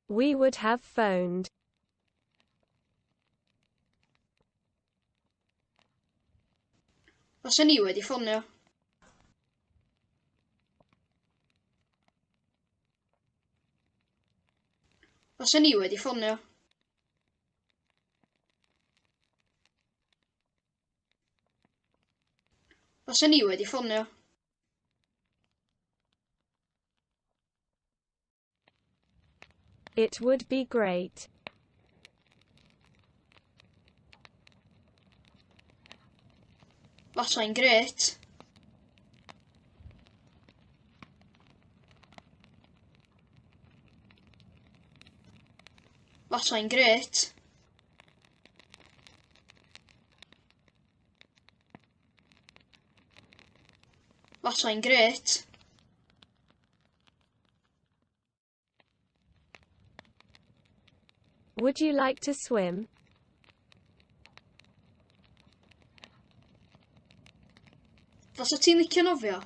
We would have phoned. Os ni wedi ffonio. Os ni wedi ffonio. Os ni wedi ffonio. It would be great. Fasai'n grêt. Fasai'n grêt. Fasai'n grêt. Would you like to swim? Fasa ti'n licio nofio?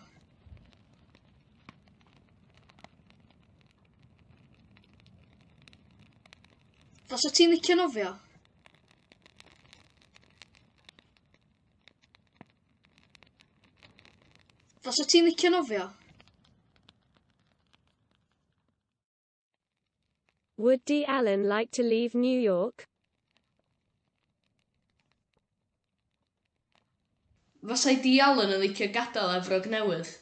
Fasa ti'n licio nofio? Os wyt ti'n licio nofio. Would D. Allen like to leave New York? Fasai D. Allen yn licio gadael Efrog Newydd.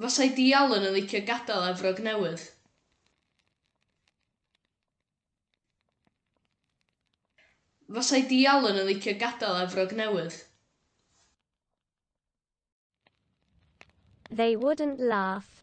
Fasai Dee Allen yn licio gadael Efrog Newydd. Fasai Dee Allen yn licio gadael Efrog Newydd. They wouldn't laugh.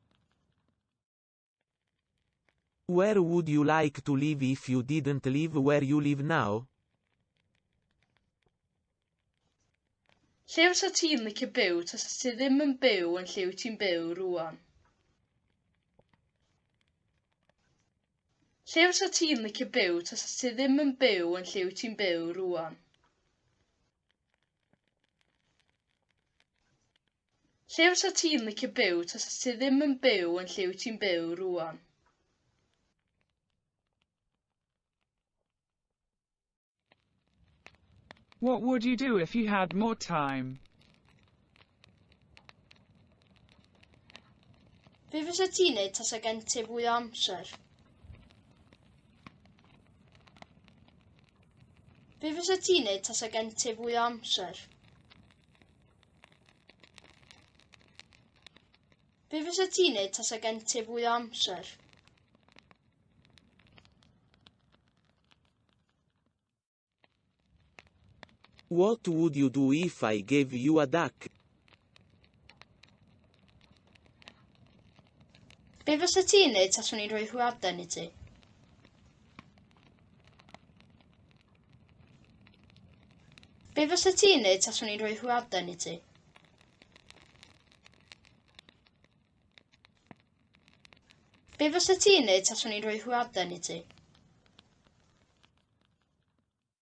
Where would you like to live if you didn't live where you live now? Lle fysa ti'n licio byw tasa ti ddim yn byw yn lle wyt ti'n byw rwan? Lle fysa ti'n licio byw tasa ti ddim yn byw yn lle wyt ti'n byw rwan? Lle fysa ti'n licio byw tasa ti ddim yn byw yn lle wyt ti'n byw rŵan? What would you do if you had more time? Be fysa ti'n neud tasa gen ti fwy o amser? Be fysa ti'n neud tasa gen ti fwy o amser? Be fysa ti'n neud tasa gen ti fwy o amser? What would you do if I gave you a duck? Be fysa ti'n neud taswn i'n rhoi hwyaden i ti? Be fysa ti'n neud taswn i'n rhoi hwyaden i ti? Be fysa ti'n neud taswn i'n rhoi hwyaden i ti?